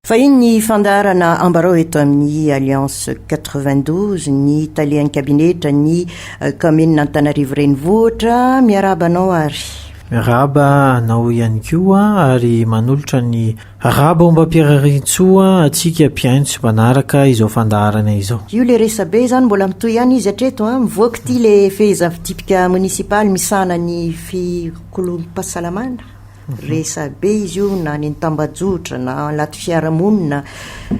Vahiny ny fandaharana ambarao eto amin'ny Alliance 92, ny talehan'ny kabinetra ny kaominina Antanarivo Renivohitra. Miarahaba anao ary. Miarahaba anao ihany koa ary manolotra ny rahabaombam-piaraharitsoa antsika mpihaino sy mpanaraka izao fandaharana izao. Io le resabe izany mbola mitohy ihany izy hatreto an! Mivoaka ity le fehizavidipika monisipaly misahana ny fikoloam-pahasalamana. Resabe izy io na ny tambajotra na anaty fiarahamonina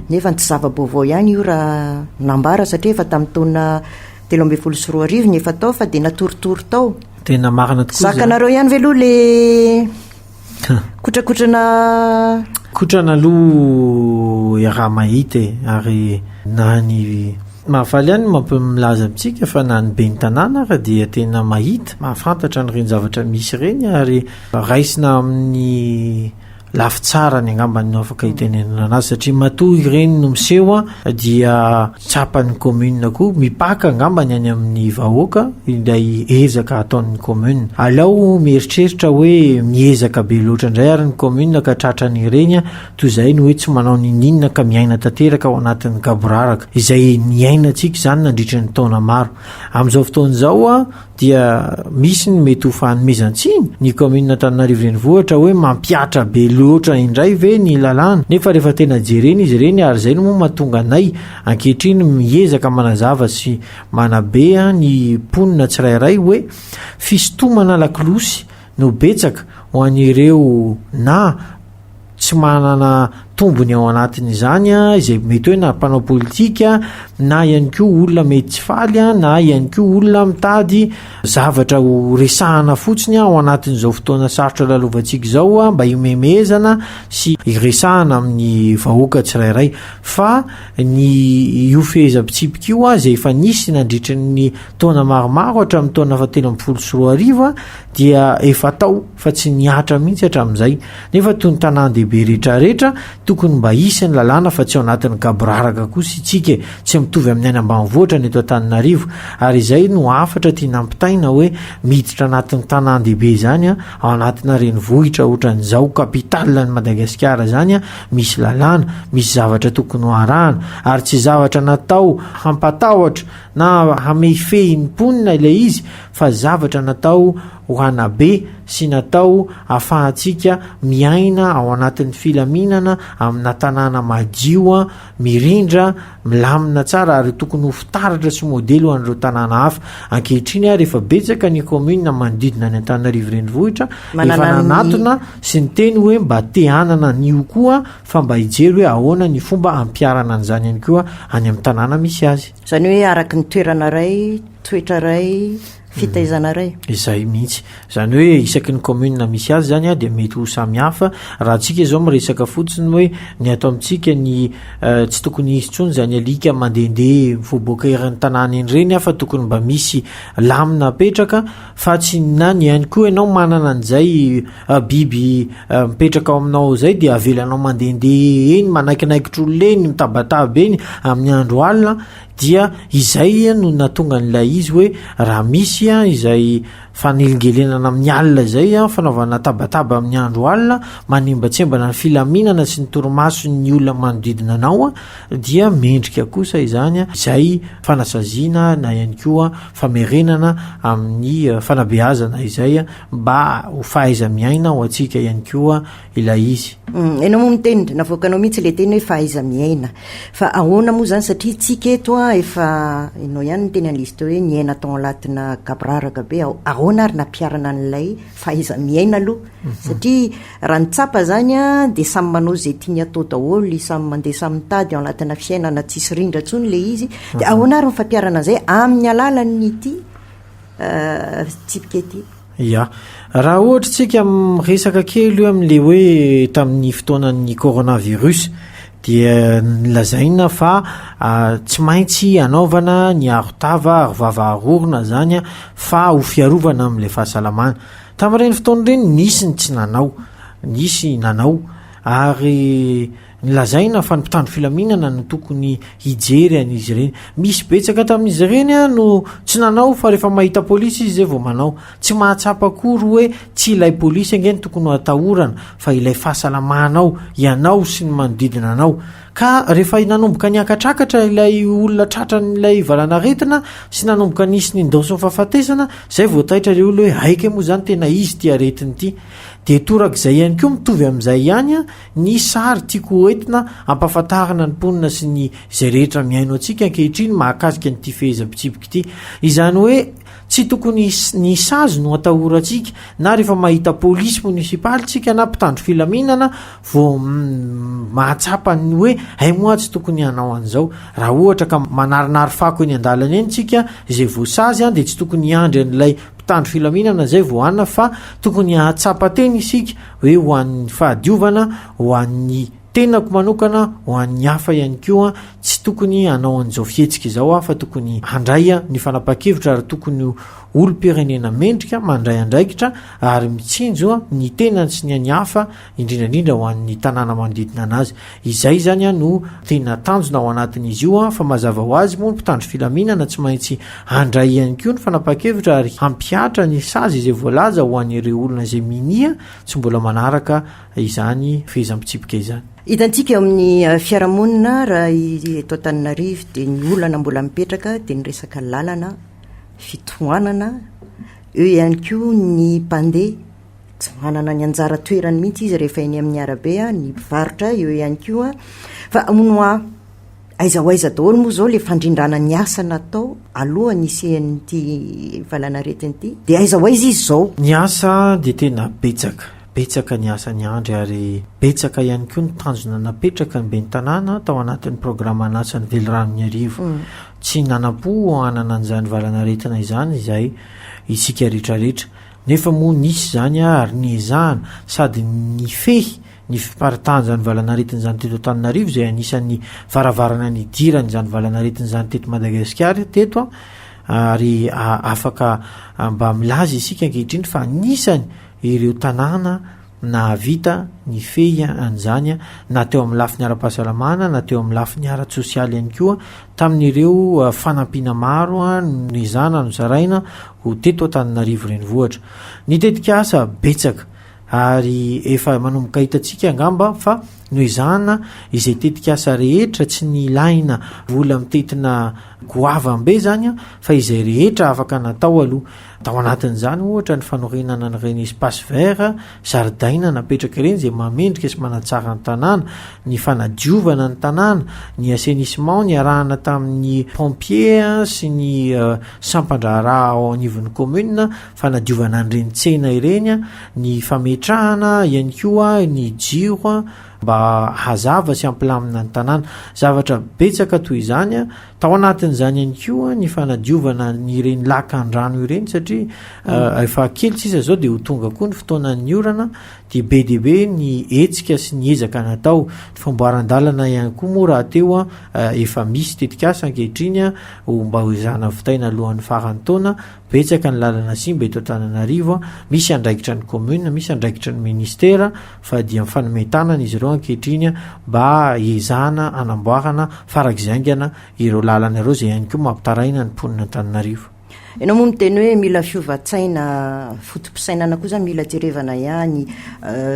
nefa tsy zava-baovao ihany io raha nambara satria efa tamin'ny taona telo ambin'ny folo sy roa arivo ny efa tao fa dia natoritory tao. Tena marina tokoa. Zakanareo ihany ve aloha le kotrakotrana kotrana aloha iaraha mahita e ary na ny mahafaly ihany mampimilaza amintsika fa na ny ben'ny tanàna ary dia tena mahita mahafantatra ny reny zavatra misy ireny ary Raisina amin'ny lafy tsarany angambany no afaka hitenenana azy satria matoa ireny no miseho dia tsapan'ny commune koa mipaka angambany any amin'ny vahoaka ilay ezaka ataon'ny commune. Alao mieritreritra hoe miezaka be loatra indray ary ny commune ka tratran'ireny toy izay ny hoe tsy manao ninininona ka miaina tanteraka ao anatin'ny gaboraraka izay niainantsika izany nandritra ny taona maro. Amin'izao fotoana izao dia misy ny mety ho fanomezan-tsiny ny kaominina Antananarivo Renivohitra hoe mampihatra be loatra indray ve ny lalàna nefa rehefa tena jerena izy ireny ary izay no moa mahatonga anay ankehitriny miezaka manazava sy manabe ny mponina tsirairay hoe fisintomana lakolosy no betsaka ho an'ireo na tsy manana tombony ao anatin'izany izay mety hoe na mpanao politika na ihany koa olona mety tsy faly na ihany koa olona mitady zavatra ho resahana fotsiny ao anatin'izao fotoana sarotra lalovantsika izao mba himemezana sy hiresahana amin'ny vahoaka tsirairay fa ny io fehezam-pitsipika io izay efa nisy nandritra ny taona maromaro hatramin'ny taona fahatelo ambin'ny folo sy roa arivo dia efa tao fa tsy nihatra mihitsy hatramin'izay, nefa toy ny tanàn-dehibe rehetrarehetra tokony mba hisy ny lalàna fa tsy ao anatin'ny gaboraraka kosa itsika e, tsy mitovy amin'ny any ambanivohitra ny eto Antananarivo, ary izay no hafatra tiana ampitaina hoe miditra anatin'ny tanàn-dehibe izany an, ao anatina renivohitra otran'izao capital an'i Madagasikara izany an, misy lalàna, misy zavatra tokony ho arahana, ary tsy zavatra natao hampatahotra na hamehifehy ny mponina ilay izy fa zavatra natao ho hanabe sy natao hafahantsika miaina ao anatin'ny filaminana amina tanàna madio, mirindra, milamina tsara ary tokony ho fitaratra sy modely ho an'ireo tanàna hafa. Ankehitriny ary efa betsaka ny kaominina manodidina an'i Antananarivo Renivohitra efa nanatona sy niteny hoe mba te hanana an'io koa fa mba hijery hoe ahoana ny fomba hampiharana an'izany ihany koa any amin'ny tanàna misy azy. Izany hoe araka ny toerana iray. Toetra iray, fitaizana iray. Izay mihitsy. Izany hoe isaky ny commune misy azy izany an dia mety ho samy hafa. Raha antsika izao miresaka fotsiny hoe ny ato amintsika ny tsy tokony hisy intsony izany alika mandehandeha mivoaboaka eran'ny tanàna eny ireny an fa tokony mba misy lamina apetraka fa tsy na ny ihany koa ianao manana an'izay biby mipetraka ao aminao izay dia avelanao mandehandeha eny manaikinaikitra olona eny mitabataba eny amin'ny andro alina Dia izay no nahatonga an'ilay izy hoe raha misy izay fanelingelenana amin'ny alina izay, fanaovana tabataba amin'ny andro alina, manembatsembana ny filaminana sy ny torimason'ny olona manodidina anao, dia mendrika kosa izany izay fanasaziana na ihany koa famerenana amin'ny fanabeazana izay mba ho fahaiza-miaina ho antsika ihany koa. ilay izy. Enao moa miteny dia navoakanao mihitsy ilay teny hoe fahaiza miaina. Fa ahoana moa izany satria istsika eto an efa enao ihany niteny an'ilay izy teo hoe niaina tao anatina gaboraraka be aho. Ahoana ary nampiharana an'ilay fahaiza miaina aloha? Satria raha ny tsapa izany an dia samy manao izay tiany atao daholo, samy mandeha samy mitady ao anatina fiainana tsisy rindra intsony ilay izy. Dia ahoana ary ny fampiharana an'izay amin'ny alalan'ity? tsipika ity. Ya. Raha ohatra tsika miresaka kely io amin'le hoe tamin'ny fotoanan'ny coronavirus dia nilazaina fa tsy maintsy anaovana ny arotava, arovava arorona zany an fa ho fiarovana amin'le fahasalamana. Tamin'ireny fotoana ireny nisy ny tsy nanao, nisy nanao ary. Nolazaina fa ny mpitandro filaminana no tokony hijery an'izy ireny. Misy betsaka tamin'izy ireny no tsy nanao fa rehefa mahita polisy izy izay vao manao. Tsy mahatsapa akory hoe tsy ilay polisy ange no tokony ho atahorana fa ilay fahasalamanao, ianao sy ny manodidina anao. Ka rehefa nanomboka niakatrakatra ilay olona tratran'ilay valanaretina sy nanomboka nisy nindaosin'ny fahafatesana, izay vao taitra ilay olona hoe aika moa izany tena izy ity aretina ity. Dia torak'izay ihany koa mitovy amin'izay ihany Ny sary tiako ho entina ampahafantarana ny mponina sy ny izay rehetra mihaino antsika ankehitriny mahakasika an'ity fehezam-pitsipiky ity. Izany hoe tsy tokony ny sazy no atahorantsika na rehefa mahita polisy monisipaly tsika na mpitandro filaminana vao mahatsapa ny hoe hay moa tsy tokony hanao an'izao. Raha ohatra ka manarinary fako eny an-dalana eny tsika izay voasazy dia tsy tokony hiandry an'ilay mpitandro filaminana izay vao hanina fa tokony hahatsapa teny isika hoe ho an'ny fahadiovana ho an'ny tenako manokana ho an'ny hafa ihany koa tsy tokony hanao an'izao fihetsika izao aho fa tokony handray ny fanapahan-kevitra ary tokony ho olom-pirenena mendrika mandray andraikitra ary mitsinjo ny tenany sy ny an'ny hafa indrindra indrindra ho an'ny tanàna manodidina anazy Izay izany no tena tanjona ao anatin'izy io fa mazava ho azy moa ny mpitandro filaminana tsy maintsy handray ihany koa ny fanapahan-kevitra ary hampihatra ny sazy izay voalaza ho an'ireo olona izay minia tsy mbola manaraka izany fehezam-pitsipika izany. Hitantsika eo amin'ny fiarahamonina raha eto Antananarivo dia ny olana mbola mipetraka dia ny resaka lalana, fitohanana, eo ihany koa ny mpandeha. Tsy manana ny anjara toerany mihitsy izy rehefa eny amin'ny arabe, ny mpivarotra eo ihany koa. Fa hono hoa, aiza ho aiza daholo moa izao ilay fandrindrana ny asa natao alohan'ny hisian'ity valanaretina ity? Dia aiza ho aiza izy izao? Ny asa dia tena betsaka, betsaka ny asa ny Andry ary betsaka ihany koa ny tanjona napetraka ny ben'ny tanàna tao anatin'ny programan'asan'ny Veliranon'Iarivo. Tsy nanam-po hanana an'izany valanaretina izany izay isika rehetra rehetra. Nefa moa nisy izany ary niezahana sady nifehy ny fiparitahan'izany valanaretina izany teto Antananarivo izay anisan'ny varavarana nidiran'izany valanaretina izany teto Madagasikara teto ary afaka mba milaza isika ankehitriny fa anisany ireo tanàna nahavita nifehy an'izany na teo amin'ny lafiny ara-pahasalamana na teo amin'ny lafiny ara-tsosialy ihany koa tamin'ireo fanampiana maro noezahana nozaraina ho teto Antananarivo Renivohitra. Ny tetikasa betsaka ary efa manomboka hitantsika angamba fa noezahana izay tetikasa rehetra tsy ny ilaina vola mitetina goavambe izany fa izay rehetra afaka natao aloha. Tao anatin'izany, ohatra, ny fanorenana an'ireny espaces verts, zaridaina, napetraka ireny, izay mahamendrika sy manatsara ny tanàna, ny fanadiovana ny tanàna, ny assainissement niarahana tamin'ny pompiers sy ny sampan-draharaha ao anivon'ny commune, fanadiovana an'ireny tsena ireny, ny fametrahana ihany koa ny jiro mba hazava sy hampilamina ny tanàna. Zavatra betsaka toy izany. Tao anatin'izany ihany koa ny fanadiovana ireny lakan-drano ireny satria mm. efa kely tsisa izao dia ho tonga koa ny fotoanan'ny orana dia be dia be ny hetsika sy ny ezaka natao ny famboaran-dalana ihany koa moa raha teo a efa misy tetikasa ankehitriny a ho mba ho ezahana vitaina alohan'ny faran'ny taona Betsaka ny lalana simba eto Antananarivo, misy andraikitra ny commune, misy andraikitra ny ministera fa dia mifanome tanana izy ireo ankehitriny mba hiezahana hanamboarana farak'izay haingana ireo lalana ireo izay ihany koa mampitaraina ny mponin' Antananarivo. Ianao moa miteny hoe mila fiovan-tsaina, foto-pisainana koa izany mila jerevana ihany,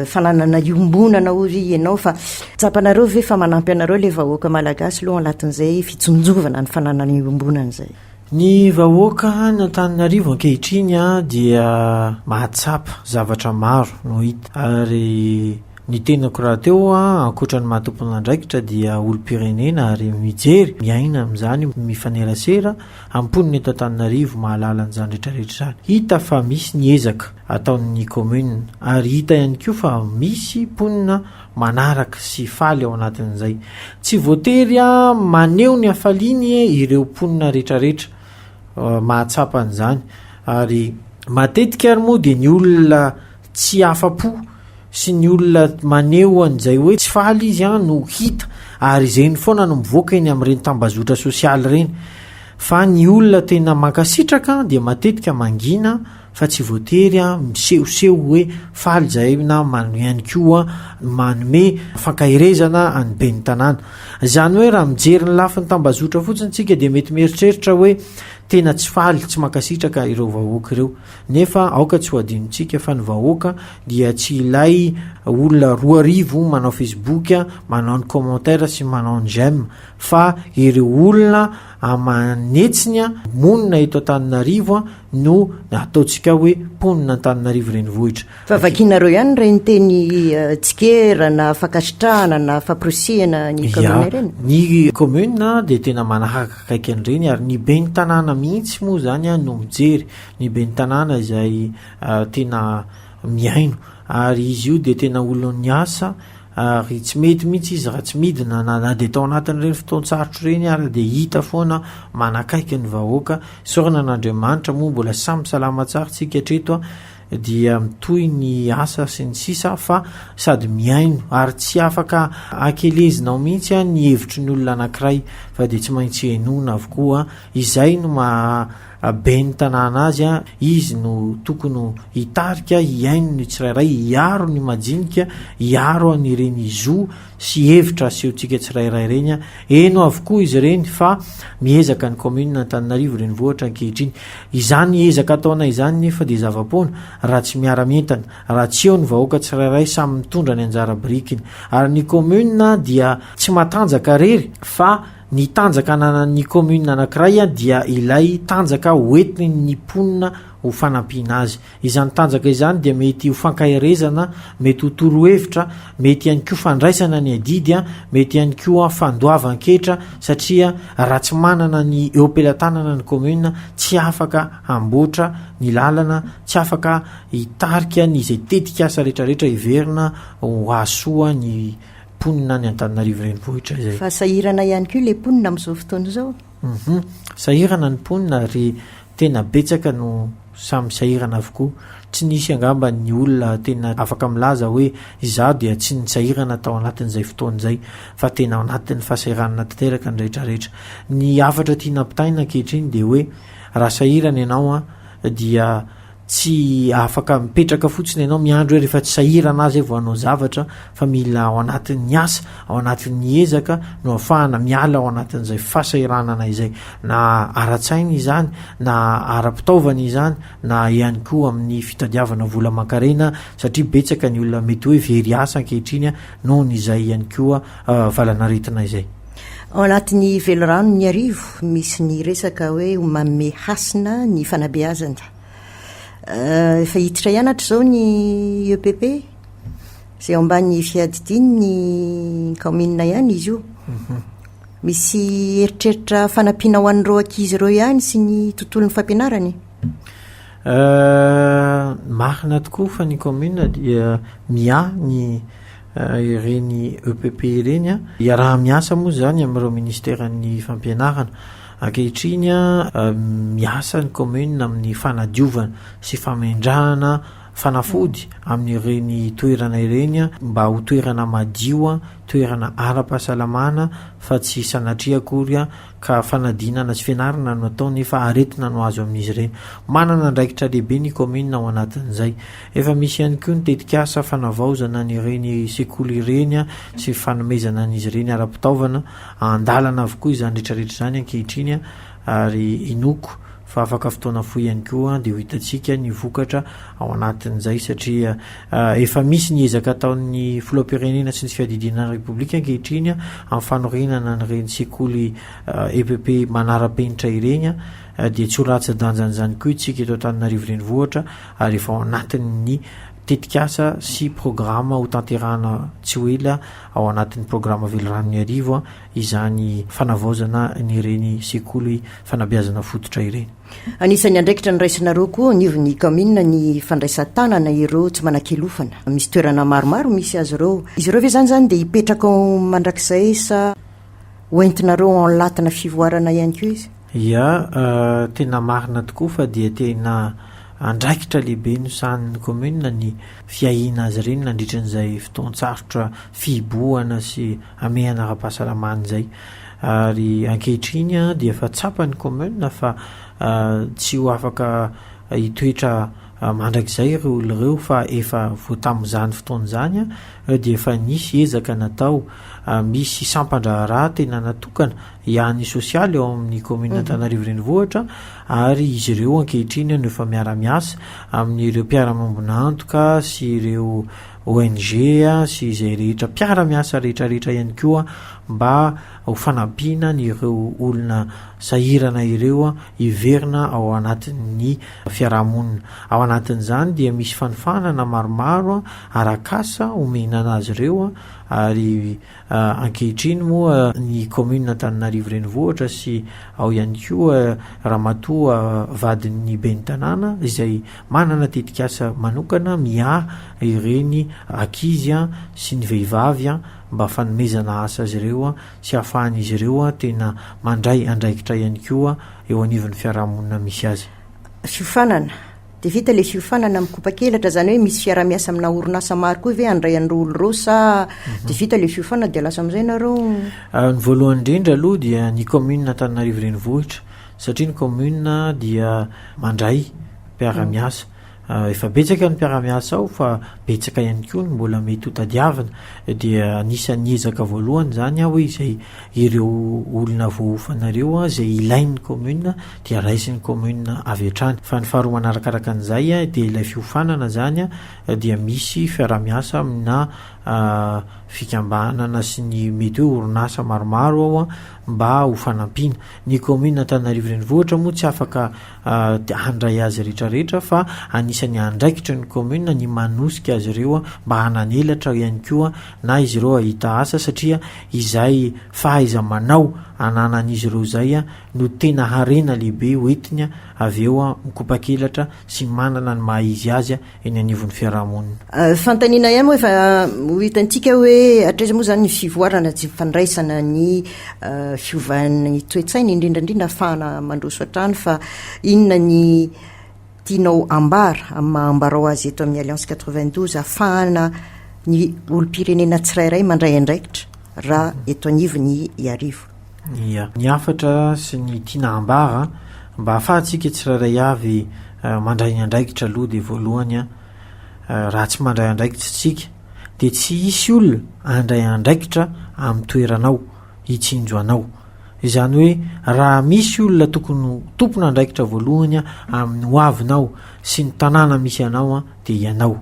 fananana iombonana hoy ve ianao fa tsapanareo ve fa manampy anareo ilay vahoaka malagasy aloha anatin'izay fitsinjovana ny fananana iombonana izay? Ny vahoaka any Antananarivo ankehitriny dia mahatsapa zavatra maro no hita ary ny tenako rahateo ankoatra ny maha tompon'andraikitra dia olom-pirenena ary mijery, miaina amin'izany, mifanerasera amin'ny mponina eto Antananarivo mahalala an'izany rehetra rehetra izany. Hita fa misy ny ezaka ataon'ny commune ary hita ihany koa fa misy mponina manaraka sy faly ao anatin'izay. Tsy voatery maneho ny hafaliany ireo mponina rehetrarehetra mahatsapa an'izany ary matetika ary moa dia ny olona tsy afa-po sy ny olona maneho an'izay hoe tsy faly izy an no hita ary izay ny foana no mivoaka eny amin'ireny tambazotra sosialy ireny fa ny olona tena mankasitraka dia matetika mangina fa tsy voatery misehoseho hoe faly izahay na manome ihany koa manome fankaherezana an'ny ben'ny tanàna. Izany hoe raha mijery ny lafiny tambazotra fotsiny isika dia mety mieritreritra hoe tena tsy faly, tsy mankasitraka ireo vahoaka ireo. Nefa aoka tsy ho adinontsika fa ny vahoaka dia tsy ilay olona roa arivo manao facebook, manao ny commentaire sy manao ny j'aime fa ireo olona aman'hetsiny monina eto Antananarivo no ataontsika hoe mponina Antananarivo renivohitra. Fa vakianareo ihany ireny teny tsikera na fankasitrahana na famporisihana ny commune ireny? Ny commune dia tena manakaiky an'ireny ary ny ben'ny tanàna mihitsy moa izany no mijery, ny ben'ny tanàna izay tena. mihaino ary izy io dia tena olon'ny asa ary tsy mety mihitsy izy raha tsy midina na na dia tao anatin'ireny fotoan-tsarotra ireny ary dia hita foana manakaiky ny vahoaka sorana an'Andriamanitra moa mbola samy salama tsara tsika hatreto dia mitohy ny asa sy ny sisa fa sady mihaino ary tsy afaka akelezinao mihitsy ny hevitry ny olona anankiray fa dia tsy maintsy henoina avokoa izay no maha ben'ny tanàna azy, izy no tokony ho hitarika, hihaino ny tsirairay, hiaro ny majinika, hiaro an'ireny zo sy hevitra asehontsika tsirairay ireny. Heno avokoa izy ireny fa miezaka ny kaominina Antananarivo Renivohitra ankehitriny. Izany ezaka ataonay izany nefa dia zava-poana raha tsy miara-mientana, raha tsy eo ny vahoaka tsirairay samy mitondra ny anjara birikiny. Ary ny kaominina dia tsy matanjaka rery fa. Ny tanjaka ananan'ny commune anankiray dia ilay tanjaka hoentin'ny mponina ho fanampiana azy. Izany tanjaka izany dia mety ho fankaherezana, mety ho torohevitra, mety ihany koa fandraisana ny adidy, mety ihany koa fandoavan-ketra satria raha tsy manana ny eo am-pelatanana ny commune tsy afaka hamboatra ny lalana, tsy afaka hitarika ny izay tetikasa retraretra heverina ho hahasoa ny Mponina any Antananarivo Renivohitra izay. Fa sahirana ihany koa ilay mponina amin'izao fotoana izao. Uhum. Sahirana ny mponina ary tena betsaka no samy sahirana avokoa. Tsy nisy angamba ny olona tena afaka milaza hoe izaho dia tsy nisahirana tao anatin'izay fotoana izay fa tena ao anatin'ny fahasahiranana tanteraka ny rehetra rehetra. Ny hafatra tiana ampitaina ankehitriny dia hoe raha sahirana ianao dia Tsy afaka mipetraka fotsiny ianao miandry hoe rehefa tsy sahirana azy vao hanao zavatra fa mila ao anatin'ny asa, ao anatin'ny ezaka no ahafahana miala ao anatin'izay fahasahiranana izay. Na ara-tsaina izany, na ara-pitaovana izany, na ihany koa amin'ny fitadiavana vola aman-karena satria betsaka ny olona mety hoe very asa ankehitriny nohon' izay ihany koa valan'aretina izay. Ao anatin'ny Velirano ny Arivo misy ny resaka hoe Ho manome hasina ny fanabeazana. Efa hiditra ihany hatrizao ny EPP, izay ao ambany fiadidiany ny kaominina ihany izy io. Mhm. Misy eritreritra fanampiana ho an'ireo ankizy ireo ihany sy ny tontolon'ny fampianarany? Euh, marina tokoa fa ny commune dia miahy ny ireny EPP ireny an. Iaraha-miasa moa izany amin'ireo ministeran'ny fampianarana. Ankehitriny miasa ny commune amin'ny fanadiovana sy famendrahana fanafody amin'ireny toerana ireny mba ho toerana madio, toerana ara-pahasalamana fa tsy sanatria akory ka fanadinana sy fianarana no atao nefa aretina no azo amin'izy ireny. Manana andraikitra lehibe ny kaominina ao anatin'izay. Efa misy ihany koa ny tetikasa fanavaozana an'ireny sekoly ireny sy fanomezana an'izy ireny ara-pitaovana. An-dalana avokoa izany rehetrarehetra izany ankehitriny ary inoako fa afaka fotoana fohy ihany koa dia ho hitantsika ny vokatra ao anatin'izay satria efa misy ny ezaka ataon'ny filoham-pirenena sy ny fiadidiana repoblika ankehitriny amin'ny fanorenana an'ireny sekoly EPP manara-penitra ireny dia tsy ho latsa-danjan'izany koa itsika eto Antananarivo Renivohitra ary efa ao anatin'ny tetikasa sy programa ho tanterahana tsy ho ela ao anatin'ny programa Velirano Miarivo izany fanavaozana an'ireny sekoly fanabeazana fototra ireny. Anisan'ny andraikitra noraisinareo koa anivon'ny kaominina ny fandraisan-tanana ireo tsy manan-kialofana. Misy toerana maromaro misy azy ireo. Izy ireo ve izany izany dia hipetraka ao mandrakizay sa ho entinareo en latina fivoarana ihany koa izy? Ia, tena marina tokoa fa dia tena andraikitra lehibe nosahanin'ny kaominina ny fiahiana azy ireny nandritra an'izay fotoan-tsarotra fihibohana sy hamehana ara-pahasalamana izay ary ankehitriny dia efa tsapan'ny kaominina fa tsy ho afaka hitoetra mandrakizay ireo olona ireo fa efa vao tamin'izany fotoana izany dia efa nisy ezaka natao misy sampan-draharaha tena natokana hiahan'ny sosialy ao amin'ny kaominina mhm. Antananarivo Renivohitra ary izy ireo ankehitriny no efa miara-miasa amin'ireo mpiara-mambonantoka sy ireo ONG sy izay rehetra mpiara-miasa rehetrarehetra ihany koa mba ho fanampiana an'ireo olona sahirana ireo hiverina ao anatin'ny fiarahamonina. Ao anatin'izany dia misy fanofanana maromaro arak'asa omena an'azy ireo ary Ankehitriny moa ny kaominina Antananarivo Renivohitra sy ao ihany koa ramatoa vadin'ny ben'ny tanàna izay manana tetikasa manokana miahy ireny ankizy sy ny vehivavy mba fanomezana asa azy ireo sy ahafahan'izy ireo tena mandray andraikitra ihany koa eo anivon'ny fiarahamonina misy azy. Fiofanana Dia vita ilay fiofanana mikopakelatra, izany hoe misy fiarahamiasa aminà orinasa maro koa ve handray an'ireo olona ireo sa mhm. dia vita ilay fiofanana dia lasa amin'izay ianareo? Ah, ny voalohany indrindra aloha dia ny commune Antananarivo Renivohitra satria ny commune dia mandray mpiaramiasa. Mhm. Ah, efa betsaka ny mpiaramiasa ao fa betsaka ihany koa ny mbola mety ho tadiavina dia anisan'ny ezaka voalohany izany aho hoe izay ireo olona voaofanareo izay ilain'ny commune dia raisin'ny commune avy hatrany fa ny faharoa manarakaraka an'izay dia ilay fiofanana izany dia misy fiaraha-miasa amina fikambanana sy ny mety hoe orinasa maromaro ao mba ho fanampiana ny commune Antananarivo Renivohitra moa tsy afaka handray azy rehetrarehetra fa anisan'ny andraikitry ny commune ny manosika azy ireo mba hananelatra ihany koa na izy ireo ahita asa satria izay fahaiza-manao ananan'izy ireo izay no tena harena lehibe hoentiny avy eo mikopakelatra sy manana ny maha izy azy eny anivon'ny fiarahamonina. Fanontaniana ihany moa efa ho hitantsika hoe hatraiza moa izany ny fivoarana tsy fandraisana ny fiovan'ny toe-tsaina, indrindra indrindra afahana mandroso hatrany fa inona ny tianao ambara amin'ny maha ambarao azy eto amin'ny Alliance 92 afahana ny olom-pirenena tsirairay mandray andraikitra raha eto anivon'ny Iarivo. Ia. Ny hafatra sy ny tiana hambara mba ahafahantsika tsirairay avy mandray ny andraikitra aloha dia voalohany raha tsy mandray andraikitra isika dia tsy hisy olona handray andraikitra amin'ny toeranao hitsinjo anao izany hoe raha misy olona tokony ho tompon'andraikitra voalohany amin'ny hoavinao sy ny tanàna misy anao dia ianao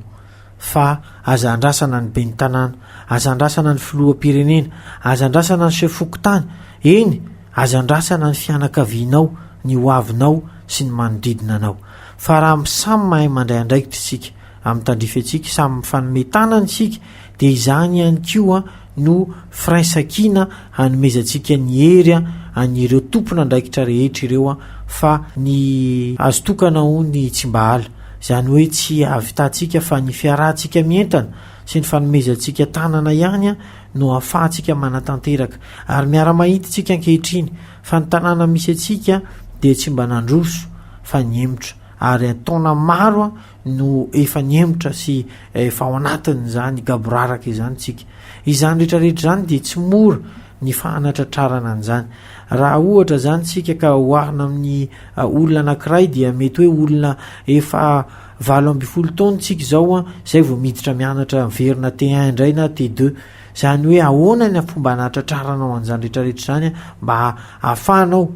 Fa aza andrasana ny ben'ny tanàna, aza andrasana ny filoham-pirenena, aza andrasana ny chef fokontany, eny, aza andrasana ny fianakavianao, ny hoavinao sy ny manodidina anao. Fa raha samy mahay mandray andraikitra isika amin'ny tandrify antsika, samy mifanome tanana isika dia izany ihany koa no firaisankina hanomezantsika ny hery an'ireo tompon'andraikitra rehetra ireo fa ny azo tokana hono ny tsimbahala, izany hoe tsy havitantsika fa ny fiarahantsika mientana sy ny fanomezantsika tanana ihany no ahafahantsika manatanteraka ary miara-mahita isika ankehitriny fa ny tanàna misy antsika dia tsy mba nandroso fa nihemotra ary an-taona maro no efa nihemotra sy efa ao anatin'izany gaboraraka izany tsika. Izany rehetra rehetra izany dia tsy mora ny fahanatratrarana an'izany. Raha ohatra izany tsika ka oharina amin'ny olona anankiray dia mety hoe olona efa valo ambin'ny folo taona tsika izao an, izay vao miditra mianatra miverina T1 indray na T2. Izany hoe ahoana ny fomba hanatratraranao an'izany rehetrarehetra izany mba hahafahanao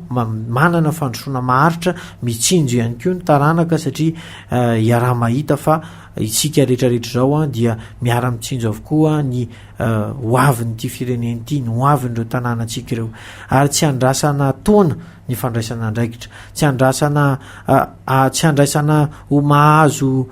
manana fandrosoana maharitra, mitsinjo ihany koa ny taranaka satria iaraha-mahita fa isika rehetrarehetra izao dia miara-mitsinjo avokoa ny hoavin'ity firenena ity, ny hoavin'ireo tanànantsika ireo. Ary tsy andrasana taona ny fandraisana andraikitra, tsy andrasana tsy andraisana ho mahazo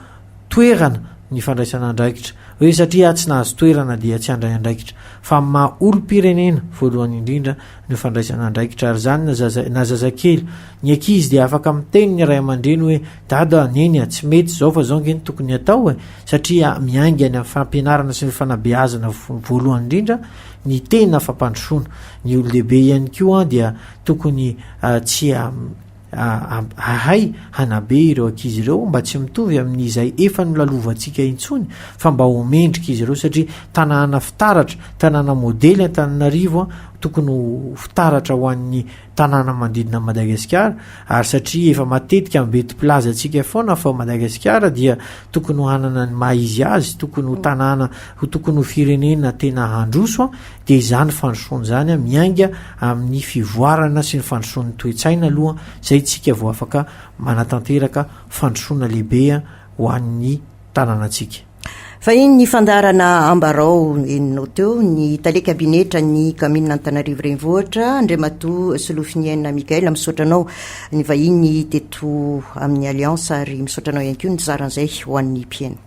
toerana ny fandraisana andraikitra hoe satria tsy nahazo toerana dia tsy handray andraikitra fa amin'ny maha olom-pirenena voalohany indrindra no fandraisana andraikitra ary izany na zaza na zazakely ny ankizy dia afaka miteny ny ray aman-dreny hoe dada neny a tsy mety izao fa zao nge ny tokony atao e satria miainga any amin'ny fampianarana sy ny fanabeazana voalohany indrindra ny tena fampandrosoana ny olon-dehibe ihany koa dia tokony tsy Hahay hanabe ireo ankizy ireo mba tsy mitovy amin'izay efa nolalovantsika intsony fa mba ho mendrika izy ireo satria tanàna fitaratra, tanàna modely Antananarivo an, tokony ho fitaratra ho an'ny tanàna manodidina an'i Madagasikara ary satria efa matetika ambetim-pilazantsika foana fa Madagasikara dia tokony ho hanana ny maha izy azy, tokony ho tanàna, tokony ho firenena tena handroso an. Dia izany fandrosoana izany miainga amin'ny fivoarana sy ny fandrosoan'ny toe-tsaina aloha izay isika vao afaka manatanteraka fandrosoana lehibe ho an'ny tanànantsika. Fahiny ny fandaharana Ambarao henonao teo ny tale kabinetra ny kaominina Antananarivo Renivohitra, Andriamatoa Solofiniaina Mickaël, misaotra anao nivahiny teto amin'ny Alliance ary misaotra anao ihany koa nizara an'izay ho an'ny mpiheno.